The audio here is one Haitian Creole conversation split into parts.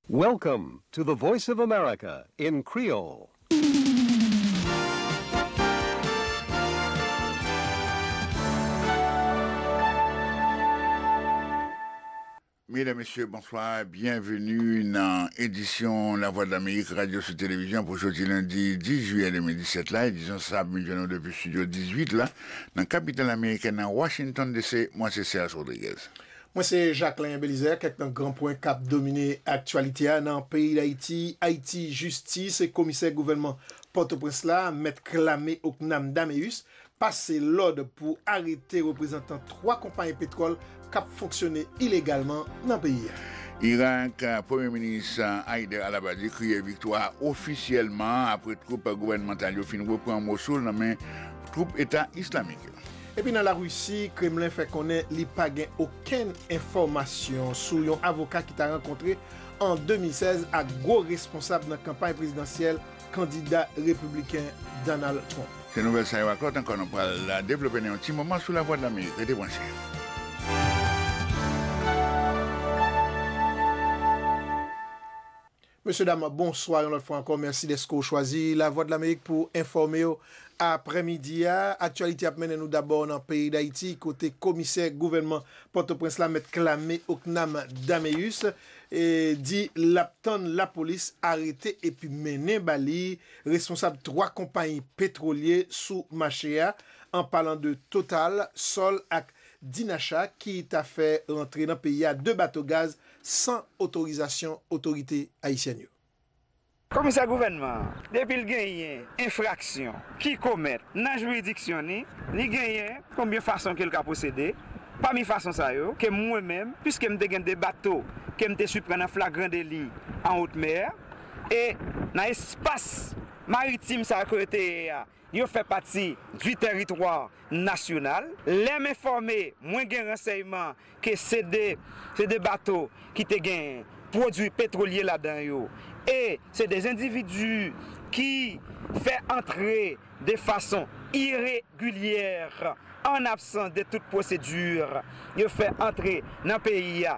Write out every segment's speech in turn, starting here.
Welcome to the voice of America in Creole. Medam mesye bonswa byen veni nan edisyon la vwa dlamerik radyo sou televizyon pou jodi lendi 10 jiyè 2017 la edisyon sa ap vin jwenn nou depi studio 18 la nan kapital ameriken nan Washington DC mwen se Serge Rodriguez. Mwen se Jacquelin Belizaire, kèk nan gran pwen kap domine aktyalite a nan peyi Dayiti, Ayiti Jistis, Komisè gouvènman Pòtoprens la, Mèt Clame Ocnam Dameus, pase lòd pou arete reprezantan 3 konpayi petwòl kap fonksyone ilegalman nan peyi a. Irak, Premye Minis Haider al-Abadi kriye viktwa ofisyèlman apre twoup gouvènmantal yo fin repran Mosoul nan men twoup Eta Islamik yo. Epi nan Larisi, Kremlen fè konnen li pa gen okenn enfòmasyon sou yon avoka ki ta rankontre an 2016 ak gwo responsab nan kanpay prezidansyèl kandida repibliken Donald Trump. Se nouvèl sa yo ak lòt ankò nou pral devlope nan yon ti moman sou Lavwadlamerik. Rete branche. Mesye dam bonswa yon lòt fwa ankò mèsi dèske w chwazi Lavwadlamerik pou w enfòme w aprè midi a. Aktyalite ap mennen nou dabò nan peyi Dayiti kote komisè gouvènman Pòtoprens la mèt Clame Ocnam Dameus di l ap tann lapolis arete epi mennen ba li responsab 3 konpayi petwolye sou mache a an palan de Total, Sol ak Dinacha ki ta fè rantre nan peyi a 2 bato gaz san otorizasyon otorite ayisyèn yo. Komisè gouvènman an, depi l genyen enfraksyon ki komèt nan jiridiksyon ni, li genyen konbyen fason ke l ka pwosede, pami fason sa yo, ke mwen menm, piske m te gen 2 bato ke m te siprann an flagran deli an wot mè, e nan espas maritim sa yo ke yo te ye a, Yo fè pati di tèritwa nasyonal. Lè m enfòme, mwen gen ransèyman ke se de se de bato ki te gen pwodui petwolye ladan yo e se de endividi ki fè antre de fason iregilyè, an absans de tout pwosedi, yo fè antre nan peyi a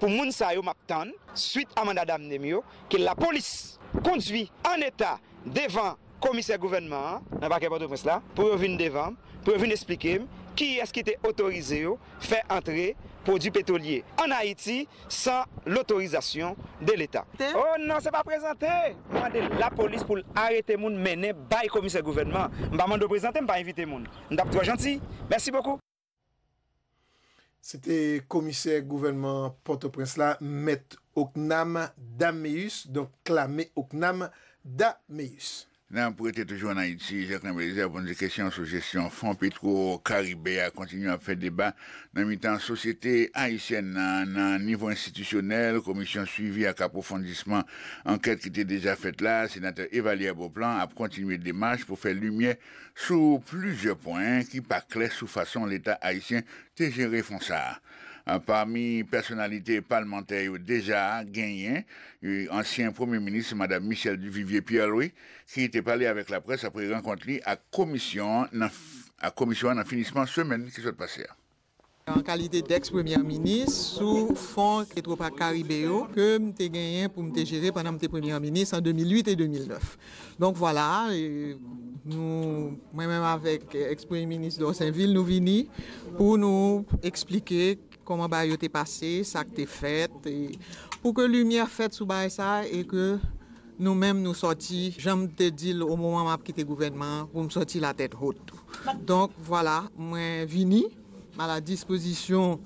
Pou moun sa yo map tann swit amanda damnem yo ke la polis kondwi an eta devan komisè gouvènman an nan pakè pòtoprens la pou yo vin devanm pou yo vin esplikem kiyès ki te otorize yo fè antre pwodwi petwolye an ayiti san lotorizasyon de leta. Oh non se pa prezante m mande la polis poul arete moun mennen bay komisè gouvènman m pa mande w prezante m pa envite moun m tap twò janti mèsi bokou. Se te komisè gouvènman Pòtoprens la, Mèt Ocnam Dameus, donk Clame Ocnam Dameus. N ap rete toujou ann Ayiti, Jacques Lamothe-Mézère pou n di kesyon sou jesyon fon petwo karibe a kontinye ap fè deba nan mitan sosyete ayisyèn nan. Nan nivo enstitisyonèl, komisyon suivi ak apwofondisman ankèt ki te deja fèt la, senatè Evallière Beauplan ap kontinye demach pou fè limyè sou plizyè pwen ki pa klè sou fason Leta ayisyen te jere fon sa a. Pami pèsonalite palmantè yo deja genyen ansyen Premye Minis Madam Michèle Duvivier Pierre-Louis ki te pale avèk laprès apre rankont li ak komisyon an nan finisman semèn ki sot pase a. an kalite d'ex premyè minis sou fon Petropac Caribe yo ke m te genyen pou m te jere pandan m te premyè minis an 2008 e 2009. Donk vwala, nou, mwen menm avèk ex premye minis Dorsainville nou vini pou nou eksplike kòman bagay yo te pase, sa k te fèt e pou ke limyè fèt sou bagay sa e ke Nou menm nou sòti, jan m te di l o moman m ap kite gouvènman an, pou m sòti la tèt hot. Donk, vwala, mwen vini a la dispozisyon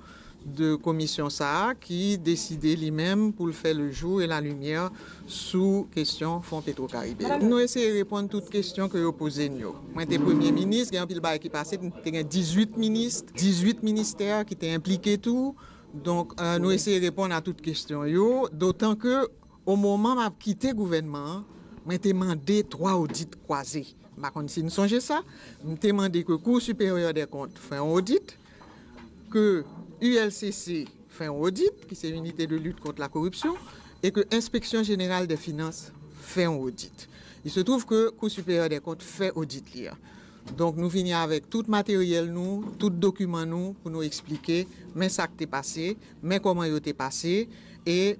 de komisyon sa a ki deside li menm pou l fè le jou e la limyè sou kesyon Fon Petro Karibe yo. Nou eseye reponn tout kesyon ke yo poze n yo. Mwen te premye minis, gen anpil bagay ki pase, te gen 18 minis, 18 ministè ki te enplike tou. Donk, nou eseye reponn a tout kesyon yo, dotan ke Omoman m ap kite gouvènman an, mwen te mande twa odit kwaze. M pa konn si n sonje sa. M te mande ke Cour Supérieure des Comptes fè yon odit, ke ULCC fè yon odit, ki se Unité de Lutte Contre la Corruption, e ke Inspection Générale des Finances fè yon odit. Il se trouve ke Cour Supérieure des Comptes fè odit li an. Donk nou vini avèk tout materyèl nou, tout dokiman nou pou nou eksplike men sa k te pase, men kòman yo te pase e.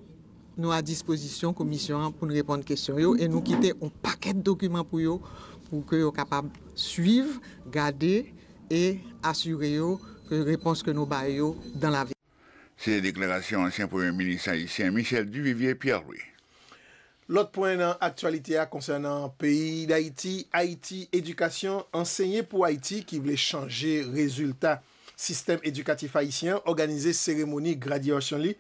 Nou a dispozisyon komisyon an pou n reponn kesyon yo e nou kite yon pakèt dokiman pou yo pou ke yo kapab swiv, gade e asire yo ke repons ke nou bay yo dan la ve. Se deklarasyon ansyen premye minis ayisyen Michel Duvivier Pierre-Louis. Lòt pwen nan aktyalite a konsènan peyi Dayiti, Ayiti Edikasyon, Ansenye pou Ayiti ki vle chanje rezilta Sistèm edikatif ayisyen an òganize seremoni gradyasyon li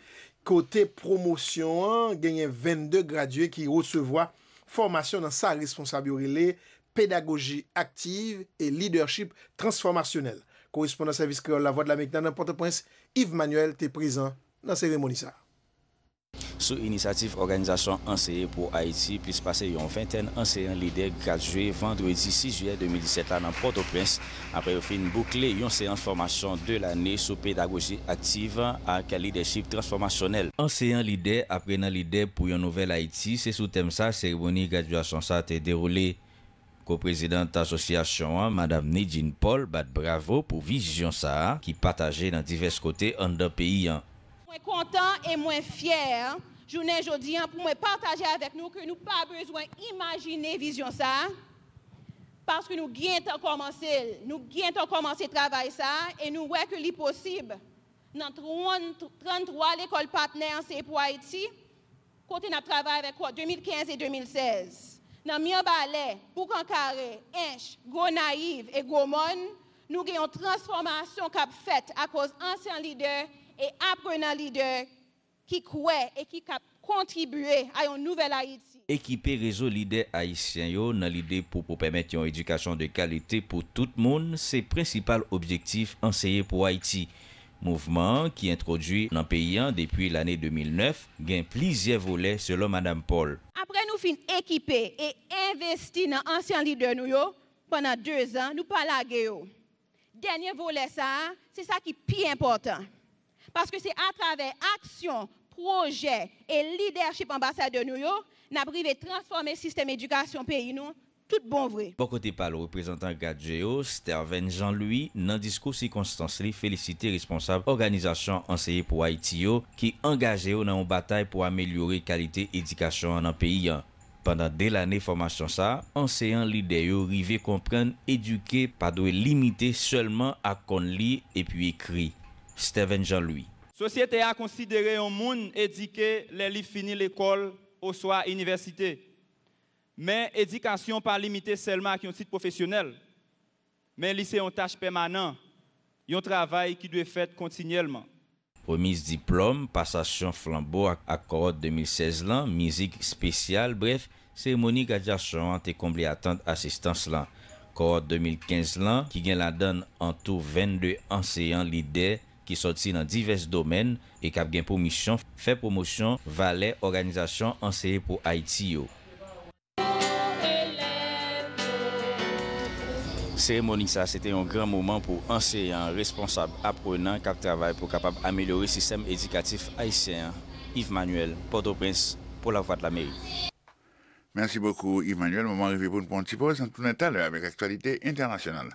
kote pwomosyon an genyen 22 gradye ki resevwa fòmasyon nan sa responsab yo rele Pedagoji Aktiv e Lidèchip Transfòmasyonèl. Korespondan Sèvis Kreyòl Lavwadlamerik nan nan Pòtoprens, Yves Manuel te prezan nan seremoni sa a. Sou inisyativ òganizasyon Anseye pou Ayiti, plis pase yon ventèn anseyan lidè gradye vandredi 6 jiyè 2017 la nan Pòtoprens apre yo fin boukle yon seyans fòmasyon 2 lane sou pedagoji aktiv ak lidèchip transfòmasyonèl. Anseyan lidè, aprenan lidè pou yon nouvèl Ayiti, se sou tèm sa seremoni gradyasyon sa te dewoule. Ko-prezidant asosyasyon an, Madam Nidjine Paul bat bravo pou vizyon sa a ki pataje nan divès kote anndan peyi an. Mwen kontan e mwen fyè jounen jodi an pou mwen pataje avèk nou ke nou pa bezwen imajine vizyon sa a paske nou gentan kòmanse l, nou gentan kòmanse travay sa a e nou wè ke li posib nan 33 lekòl patnè Anseye Pou Ayiti. kote n ap travay avèk kò 2015 e 2016 nan Mirebalè, Boukan Kare, Ench, Gwo Nayiv e Gwo Mòn, nou gen yon transfòmasyon k ap fèt akoz ansyan lidè e aprenan lidè ki kwè e ki k ap kontribye a yon nouvèl Ayiti. Ekipe rezo lidè ayisyen yo nan lide pou pou pèmèt yon edikasyon de kalite pou tout moun se prensipal objektif Anseye Pou Ayiti. Mouvman an, ki entwodui nan peyi an depi lane 2009, gen plizyè volè, selon Madam Paul. Apre nou fin ekipe e envesti nan ansyan lidè nou yo pandan dezan, nou pa lage yo. Dènye volè sa a, se sa ki pi enpòtan. Paske se atravè aksyon, pwojè e lidèchip anbasadè nou yo, n ap rive transfòme sistèm edikasyon peyi nou tout bon vre. Bò kote pa l reprezantan GADGE yo, Sterven Jean Louis, nan diskou sikonstans li felisite responsab òganizasyon Anseye Pou Ayiti yo ki angaje yo nan yon batay pou amelyore kalite edikasyon an nan peyi an. Pandan 2 lane fòmasyon sa, anseyan lidè yo rive konprann edike pa dwe limite sèlman ak konn li epi ekri. Sterven Jean Louis. Sosyete a konsidere yon moun edike lè li fini lekòl oswa inivèsite. Men, edikasyon pa limite sèlman ak yon tit pwofesyonèl, men li se yon tach pèmanan, yon travay ki dwe fèt kontinyèlman. Remiz diplòm, pasasyon flanbo ak ak kowòt 2016 lan, mizik spesyal, brèf, seremoni gradyasyon an te konble atant asistans lan. Kowòt 2015 lan, ki gen ladann antou 22 anseyan lidè, ki sòti nan divès domèn e k ap gen pou misyon fè pwomosyon valè òganizasyon Anseye Pou Ayiti yo. Seremoni sa a se te yon gran moman pou anseyan, responsab, aprenan k ap travay pou kapab amelyore sistèm edikatif ayisyen an, Yves Manuel, Pòtoprens, pou Lavwadlamerik. Merci beaucoup Yves Manuel, moman an rive pou n pran yon ti pòz, n ap tounen talè avèk aktyalite entènasyonal.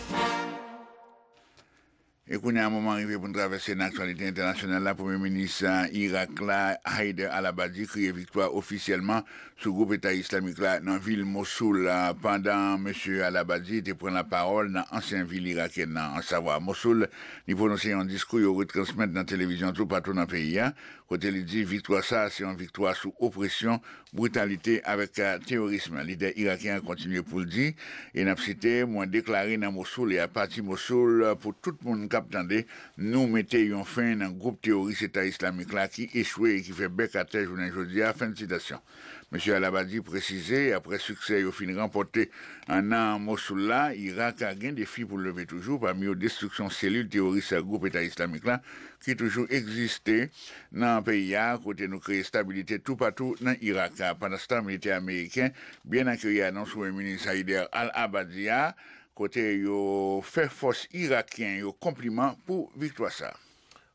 E kounye a moman rive pou n travèse nan aktyalite entènasyonal la, Premye Minis Irak la, Haider al-Abadi kriye viktwa ofisyèlman sou gwoup Eta Islamik la nan vil Mosoul pandan Mesye al-Abadi te pran lapawòl nan ansyen vil irakyèn nan ansavwa Mosoul, li pwononse yon diskou yo retransmèt nan televizyon toupatou nan peyi a kote li di viktwa sa a se yon viktwa sou opresyon Britalite avèk teyorism lidè irakyen an kontinye pou l di, e n ap site, Mwen deklare nan Mosoul e apati Mosoul pou tout moun k ap tande, Nou mete yon fen nan gwoup teyoris Eta Islamik la ki echwe e ki fè bèk atè jounen jodi a. Fen sitasyon. Mesye al-Abadi presize, aprè siksè yo fin ranpòte nan Mosoul la, Irak gen defi pou l leve toujou, pami yo destriksyon selil teyoris gwoup Eta Islamik la ki toujou egziste nan peyi a kote nou kreye stabilite toupatou nan Irak. Pandanstan, militè ameriken byen akeyi anons Premye Minis Haider al-Abadi a kote yo fè fòs irakyen yo konpliman pou viktwa sa a.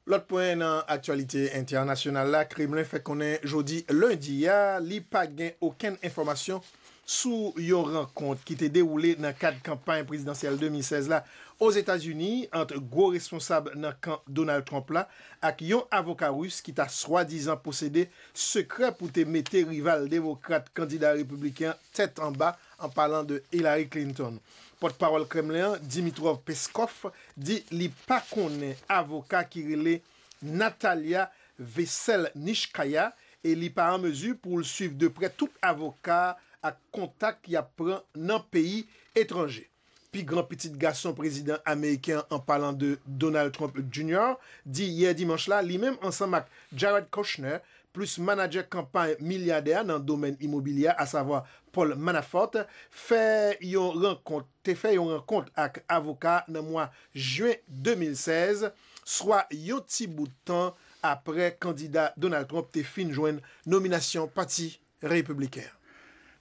Lòt pwen nan aktyalite entènasyonal la, Kremlen fè konnen jodi lendi a li pa gen okenn enfòmasyon sou yon rankont ki te dewoule nan kad kanpay prezidansyèl 2016 la Ozetazini ant gwo responsab nan kan Donald Trump la ak yon avoka ris ki ta swadizan posede sekrè pou te mete rival demokrat kandida repibliken an tèt anba, an palan de Hillary Clinton. Pòtpawòl Kremlen an, Dimitrov Peskov, di li pa konnen avoka ki rele. Nathalia Veselnitskaya e li pa an mezi pou l swiv de prè tout avoka ak kontak y ap pran nan peyi etranje. Pi gran pitit gason prezidan ameriken an an palan de Donald Trump Junior di yè dimanch la li menm ansanm ak Jared Kushner plis manadjè kanpay milyadè a nan domèn imobilye a asavwa Paul Manafort fè yon rankont te fè yon rankont ak avoka nan mwa jen 2016 swa yon ti bout tan apre kandida Donald Trump te fin jwenn nominasyon Pati Repibliken an.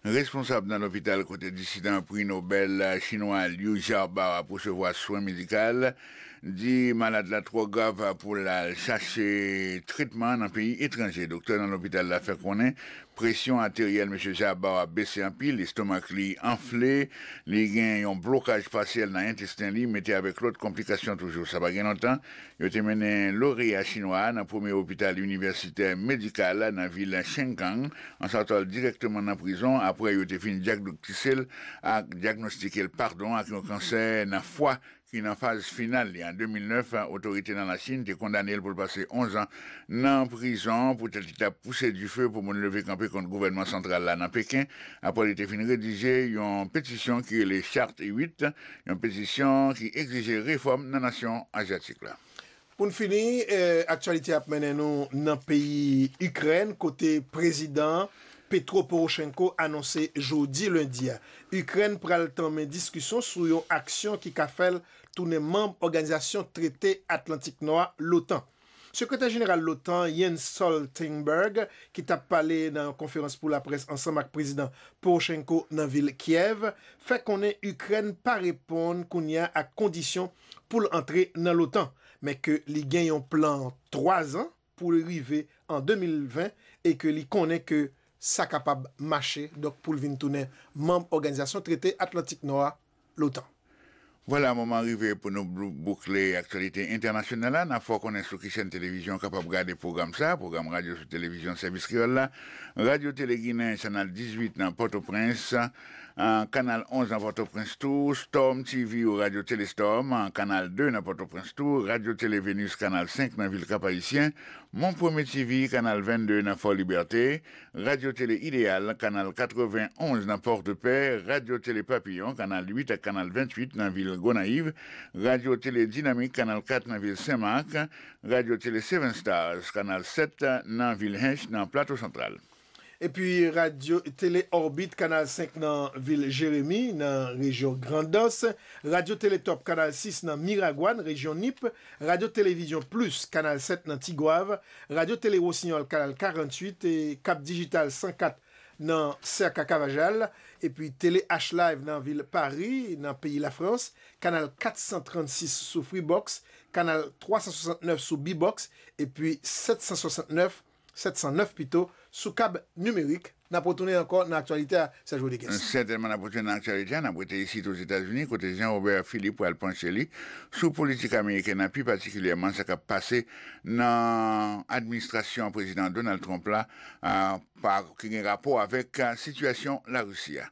Responsab nan lopital kote disidan Pri Nobèl chinwa Liu Xiaobo ap resevwa swen medikal di malad la twò grav pou l al chache tretman nan peyi etranje. Doktè nan lopital la fè konnen Presyon ateryèl Mesye Jabbour a bese anpil, estomak li anfle, li gen yon blokaj pasyèl nan entesten li, mete avèk lòt konplikasyon toujou. Sa pa gen lontan, yo te mennen loreya chinwa a nan premye opital inivèsitè medikal nan vil Shenkang, an sòtò l dirèkteman nan prizon apre yo te fin dyakdoktise l ak dyagnostike l padon ak yon kansè nan fwa ki nan faz final li an 2009, otorite nan Lachin te kondane l pou l pase onzan nan prizon poutèt li t ap pouse dife pou moun leve kanpe kont gouvènman santral la nan Peken apre li te fin redije yon petisyon ki rele Charte 8, yon petisyon ki egzije refòm nan nasyon azyatik la. Pou n fini, aktyalite ap mennen nou nan peyi Ikrèn kote Prezidan Petro Poroshenko anonse jodi lendi a, Ikrèn pral tanmen diskisyon sou yon aksyon ki ka fè l tounen manb Òganizasyon Trete Atlantik Nò a, l'OTAN. Sekretè Jeneral l'OTAN, Jens Stoltenberg, ki t ap pale nan yon konferans pou laprès ansanm ak Prezidan Poroshenko nan vil Kyèv, fè konnen Ikrèn pa reponn kounye a ak kondisyon pou l antre nan l'OTAN, men ke li gen yon plan 3 zan pou l rive an 2020 e ke li konnen ke sa kapab mache, donk pou l vin tounen manm Òganizasyon Trete Atlantik Nò a, l'OTAN. Vwala, moman an rive pou nou boukle aktyalite entènasyonal la. N ap fè w konnen sou ki chèn televizyon w kapab gade pwogram sa a, pwogram radyo sou televizyon sèvis kreyòl la, Radio Télé Guinen, chanal 18 nan Pòtoprens. Kanal 11 nan Pòtoprens tou, Storm TV ou Radyo Tele Storm, Kanal 2 nan Pòtoprens tou, Radyo Tele Venus Kanal 5 nan vil Kap Ayisyen, Mon Premier TV Kanal 22 nan Fò Libète, Radyo Tele Ideyal Kanal 91 nan Pòtepè, Radyo Tele Papiyon Kanal 8 ak Kanal 28 nan vil Gonayiv, Radyo Tele Dinamik Kanal 4 nan vil Sen Mak, Radyo Tele 7 Stars Kanal 7 nan vil Hinche nan Plato Santral. Epi radyo tele Òbit kanal 5 nan vil Jeremi, nan rejyon Grandans, radyo tele Top kanal 6 nan Miragwàn, rejyon Nip, radyo televizyon Plus kanal 7 nan Tigwav, radyo tele Rosinyòl kanal 48, Cap Digital 104 nan Cerca Cavajal, epi tele H-Live nan vil Pari, nan peyi Lafrans, kanal 436 sou Freebox, kanal 369 sou Bbox, epi 769 709 pito sou kab nimerik, n ap retounen ankò nan aktyalite a Serge Rodrigues. Sètènman n ap retounen nan aktyalite a, n ap rete isit Ozetazini kote Jean Robert Philippe pral panche li sou politik ameriken an pi patikilyèman sa k ap pase nan administrasyon prezidan Donald Trump la ki gen rapò avèk sitiyasyon Larisi a.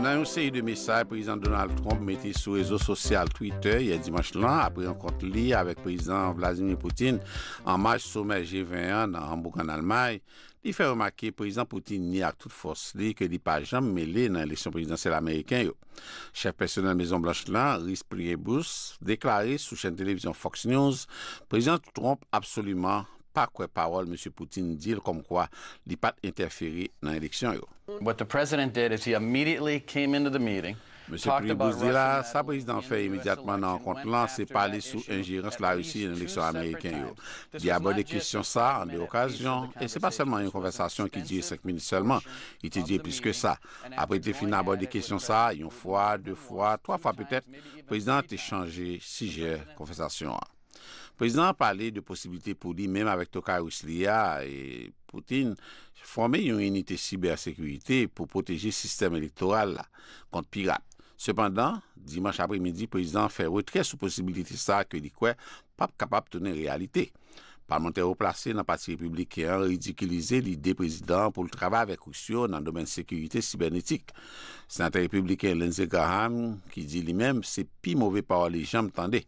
Nan yon seri de mesaj Prezidan Donald Trump mete sou rezo sosyal Twitter yè dimanch lan apre rankont li avèk Prezidan Vladimir Putin an maj somè G-20 an nan Hambourg an Almay, li fè remake Prezidan Putin nye ak tout fòs li ke li pa janm mele nan eleksyon prezidansyèl ameriken yo. Chèf pèsonèl Mezon Blanch la, Reese Priebus, deklare sou chèn televizyon Fox News Prezidan Trump absoliman pa kwè pawòl Mesye Putin di l kòmkwa li pa t entèfere nan eleksyon yo. Mesye Priebus di la, sa prezidan an fè imedyatman nan rankont lan se pale sou enjerans Larisi nan eleksyon ameriken yo. Li abòde kesyon sa a an de okazyon, e se pa sèlman yon konvèsasyon ki dire senk minit sèlman, li te dire plis ke sa. Apre l te fin abòde kesyon sa a yon fwa, de fwa, twa fwa petèt, prezidan an te chanje sijè konvèsasyon an. Prezidan an pale de posiblite pou li menm avèk tokay ris li a, Putin, fòme yon inite sibè-sekirite pou pwoteje sistèm elektoral la kont pirat. Sepandan, dimanch apremidi, prezidan an fè retrè sou posibilite sa a ke li kwè pap kapab tounen reyalite. Palmantè wo plase nan pati Repibliken an ridikilize lide prezidan an pou l travay avèk Ris yo nan domèn sekirite sibènetik. Senatè Repibliken Lindsey Graham ki di li menm se pi move pawòl li janm tande.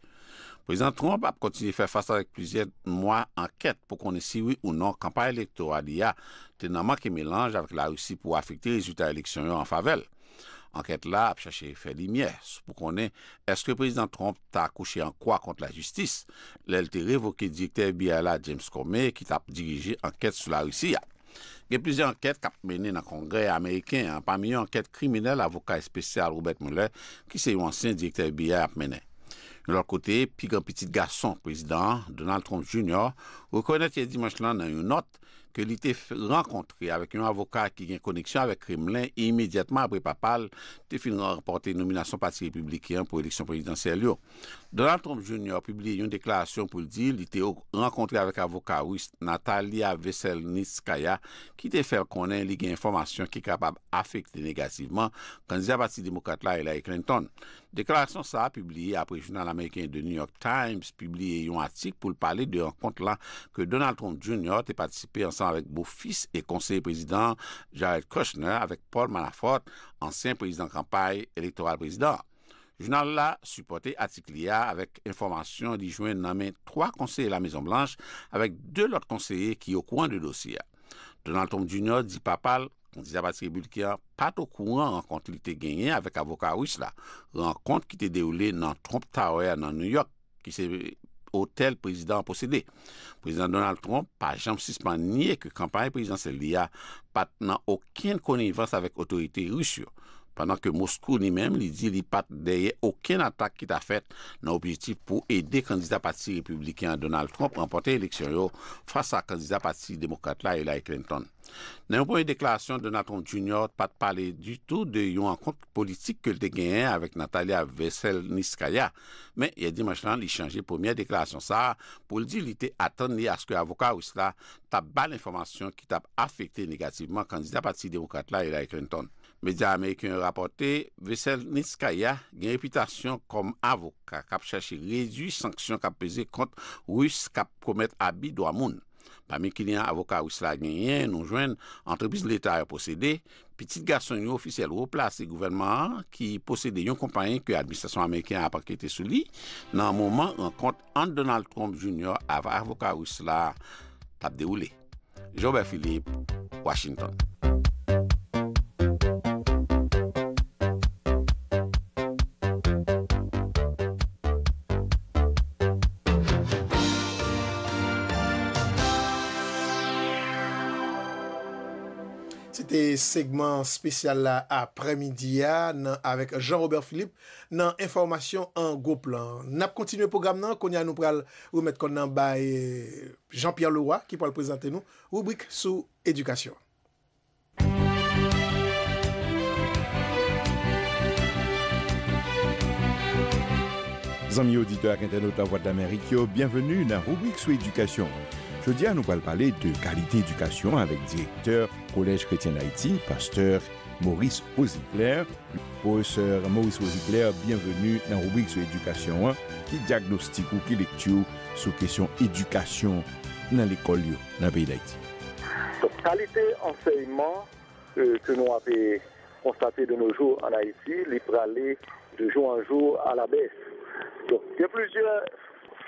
Prezidan Trump ap kontinye fè fas avèk plizyè mwa ankèt pou konnen si wi ou non kanpay elektoral li a te nan manke melanj avèk Larisi pou afekte rezilta eleksyon yo an favè l. Ankèt la ap chache fè limyè pou konnen èske Prezidan Trump ta akouche an kwa kont lajistis lè l te revoke direktè FBI la, James Comey, ki t ap dirije ankèt sou Larisi a. Gen plizyè ankèt k ap mennen nan Kongrè ameriken an, pami yo ankèt kriminèl avoka espesyal Robert Mueller, ki se yon ansyen direktè FBI, ap mennen. Yon lòt kote, pi gran pitit gason prezidan an, Donald Trump Junior, rekonèt yè dimanch lan nan yon nòt, ke li te rankontre avèk yon avoka ki gen koneksyon avèk Kremlen imedyatman apre papa l te fin ranpòte nominasyon Pati Repibliken an pou eleksyon prezidansyèl yo. Donald Trump Junior pibliye yon deklarasyon pou l di li te rankontre avèk avoka Ris Natalia Veselnitskaya ki te fè l konnen li gen enfòmasyon ki kapab afekte negativman kandida Pati Demokrat la Hillary Clinton. Deklarasyon sa a pibliye apre jounal ameriken The New York Times pibliye yon atik pou l pale de rankont la ke Donald Trump Junior te patisipe ansanm avèk bofis e konseye prezidan an Jared Kushner avèk Paul Manafort, ansyen prezidan kanpay elektoral prezidan an. Jounal la sipòte atik li a avèk enfòmasyon li jwenn nan men twa konseye Lamezon Blanch avèk de lòt konseye ki okouran de dosye a. Donald Trump Junior di papa l. Li di sa paske Buttigieg a pat okouran rankont li te genyen avèk avoka ris la, rankont ki te dewoule nan Trump Tower nan New York, ki se otèl prezidan an posede. Prezidan Donald Trump pa janm sispann nye ke kanpay prezidansyèl li a pat nan okenn konivans avèk otorite ris yo, pandan ke Moskou li menm li di li pat dèyè okenn atak ki ta fèt nan objektif pou ede kandida pati repibliken an Donald Trump ranpòte eleksyon yo fas a kandida pati demokrat la Hillary Clinton. Nan yon premye deklarasyon, Donald Trump Junior pa t pale ditou de yon rankont politik ke l te genyen avèk Natalia Veselnitskaya, men yè dimanch lan li chanje premyè deklarasyon sa a pou l di li te atann li aske avoka ris la t ap ba l enfòmasyon ki t ap afekte negativman kandida pati demokrat la Hillary Clinton. Medya ameriken yo rapòte Veselnitskaya gen repitasyon kòm avoka k ap chache redui sanksyon k ap peze kont ris k ap komèt abi dwa moun. Pami kliyan avoka ris la genyen, nou jwenn antrepriz leta yo posede, pitit gason yon ofisyèl wo plase gouvènman an ki posede yon konpayi ke administrasyon ameriken an ap ankete sou li nan moman rankont ant Donald Trump Junior avè avoka ris la t ap dewoule. Jobè Philippe. Washington. Se te segman spesyal la apre midi a nan avek Jean Robert Philippe nan enfòmasyon an gwo plan. Nap kontinye pwogram nan, kounye a nou pral remèt kòn nan bay Jean Pierre Leroy ki pral prezante nou Ribrik sou edikasyon. Zanmi oditè ak entènot Lavwadlamerik yo, byenveni nan ribrik sou edikasyon. Jodi a nou pral pale de kalite edikasyon avèk direktè Kolèj Kretyen Dayiti, pastè Maurice Rosiglè. Pwofesè Maurice Rosiglè, byenveni nan ribrik sou edikasyon an. Ki dyagnostik ou, ki lekti w sou kesyon edikasyon? nan lekòl yo nan peyi Dayiti. Donk kalite ansèyman ke nou ape konstate de no jou an Ayiti li prale de jou an jou a la bès. Donk gen plizyè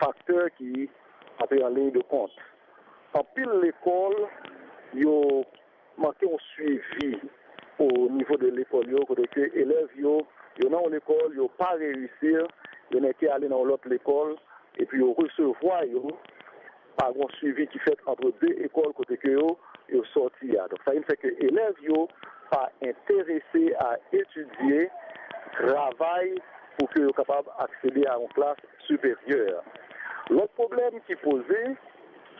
faktè ki ape an liy de kont. Anpil lekòl yo. Manke yon swivi o nivo de lekòl yo kote ke elèv yo, yo nan yon lekòl yo pa reyisir, yo nèke ale nan yon lòt lekòl epi yo resevwa yo, pa gen yon swivi ki fèt antre 2 ekòl kote ke yo yo sòti a. Donk sa vin fè ke elèv yo pa enterese a etidye, travay pou ke yo kapab aksede a yon klas siperyè. Lòt pwoblèm ki poze,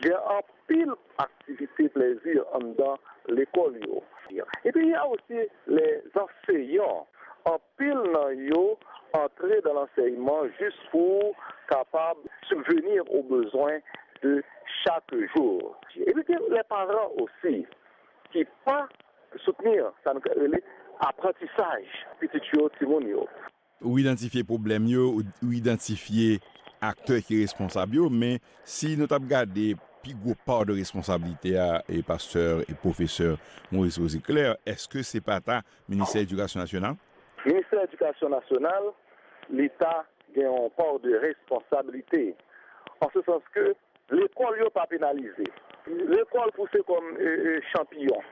gen anpil. Pil aktivite plezi anndan lekòl yo. E pi y a osi lè zanseyan, anpil nan yo antre dan lansèyman jis pou kapab sibveni o bezwen de chak jou. E pi gen lè paran osi ki pa soutni sa nou ka rele aprantisaj pitit yo, timoun yo. Ou idantifye pwoblèm yo, ou idantifye aktè ki responsab yo, men si nou t ap gade pi gwo pa de responsablite a, pastè e pwofesè Maurice Rosy Clair, èske se pa ta ministè edikasyon nasyonal? Ministè edikasyon nasyonal li ta gen yon pa de responsablite, an se sans ke Lekòl yo pa penalize. Lekòl pouse kòm chanpiyon.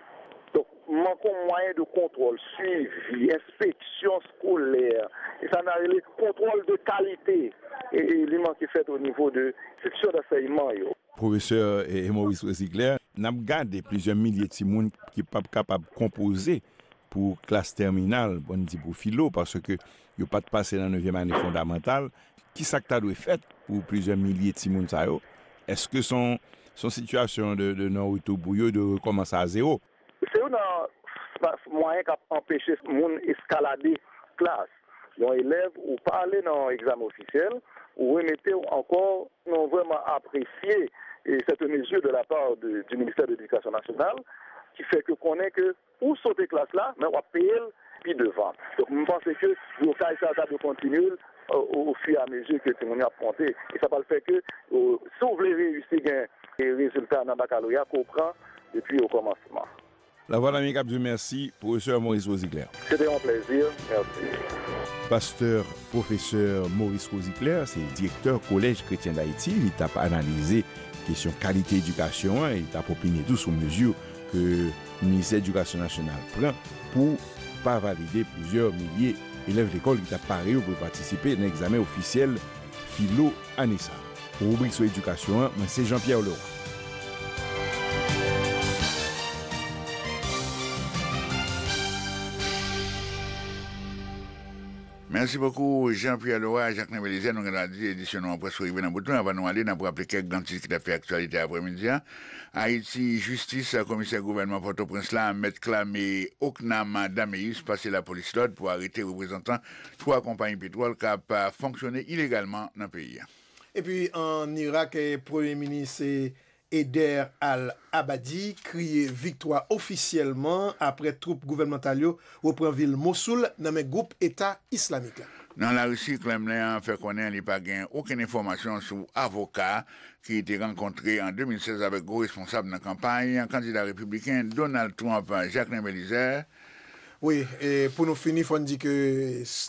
Donk, manke mwayen de kontwòl, swivi, enspeksyon skolè, e sa na rele kontwòl de kalite, li manke fèt onivo de enstitisyon dansèyman yo. Pwofesè Maurice Rosigler, n ap gade plizyè milye timoun ki p ap kapab konpoze pou klas tèminal, pou n di pou filo, paske Yo pa t pase nan nevyèm ane fondamantal. Ki sa k ta dwe fèt pou plizyè milye timoun sa yo? Èske se yon sitiyasyon de non-retou pou yo, yo dwe rekòmanse a zewo? Se youn nan mwayen k ap anpeche moun eskalade klas. Yon elèv ou pa ale nan yon egzamen ofisyèl, ou remete ou ankò, nou vrèman apresye cette mesure de la part du Ministère de l'Education nationale ki fè ke konnen ke, Ou sote klas la men wap peye l pi devan. Donk m panse ke blokaj sa yo ta dwe kontinye l o fi a mezi ke timoun yo ap monte. E sa pral fè ke si w vle reyisi gen rezilta nan bakaloreya ke w pran depi o kòmansman. Lavwadlamerik ap di w mèsi, Pwofesè Maurice Rosicler. Se te yon plèzi. Mèsi. Pastè Pwofesè Maurice Rosicler se direktè Kolèj Kretyen Dayiti. Li t ap analize kesyon kalite edikasyon an e li t ap opine tou sou mezi ke. Ministè Edikasyon Nasyonal pran pou pa valide plizyè milye elèv lekòl ki t ap pare yo pou yo patisipe nan egzamen ofisyèl Filo ane sa a. Pou ribrik sou edikasyon an, mwen se Jean Pierre Leroy. Mèsi bokou Jean Pierre Lora, Jacquelin Belizaire, nou gen dwa di edisyon nou an prèske rive nan bout li, anvan nou ale nap raple kèk gran tit ki tap fè aktyalite aprèmidi a, Ayiti, Jistis, Komisè gouvènman Pòtoprens la, Mèt Clame Ocnam Dameus pase lapolis lòd pou arete reprezantan 3 konpayi petwòl kap fonksyone ilegalman nan peyi a. Epi an Irak, Premye Minis Eder al-Abadi kriye viktwa ofisyèlman apre twoup gouvènmantal yo repran vil Mosoul nan men gwoup Eta Islamik la. Nan Larisi, Kremlen an fè konnen li pa gen okenn enfòmasyon sou avoka ki te rankontre an 2016 avèk gwo responsab nan kanpay kandida repibliken Donald Trump, Jacquelin Belizaire. Wi, e pou nou fini fò n di ke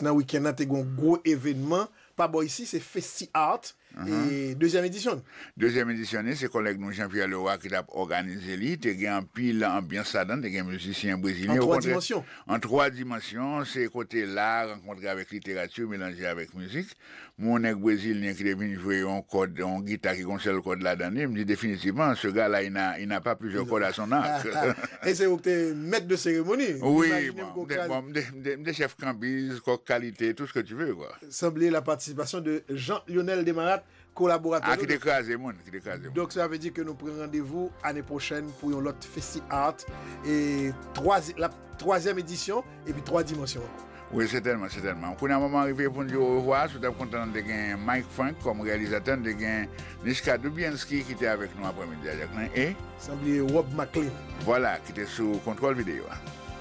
nan wikenn nan te gen yon gwo evenman Pa bò isi se Festi Art e dezyèm edisyon n. Dezyèm edisyon ni se kòlèg nou Jean Pierre Leroy ki t ap òganize li. Te gen anpil anbyans ladan, te gen mizisyen brezilyen o kontrè an twa dimansyon. Se kote la rankontre avèk literati melanje avèk mizik. Mwen yon nèg brezilyen ki te vin jwe yon kòd, yon gita ki gen yon sèl kòd ladan li, m di definitivman se ga la il n'a il n'a pas plusieurs cordes à son arc. E se ou k te mèt de seremoni? M imajine m ko pral. Wi, m te chèf kanbiz, kòk kalite, tout ce que tu veux kwa. Sanble la participation de Jean Lionel Desmarattes kolaboratè nou. Ah ki te kraze moun, ki te kraze moun. Donk sa vle di ke nou pran randevou ane pwochèn pou yon lòt Festi-Art e twa lap twazyèm edisyon epi twa dimansyon ankò. Wi sètènman, sètènman. Kounye a moman an rive pou n di orevwa, si w t ap kontan nou te gen Mike Frank kòm reyalizatè, nou te gen Niska Dubiansky ki te avèk nou aprè midi a Jacquelin e. Sanble Rob McLean. Vwala, ki te sou kontwòl videyo a.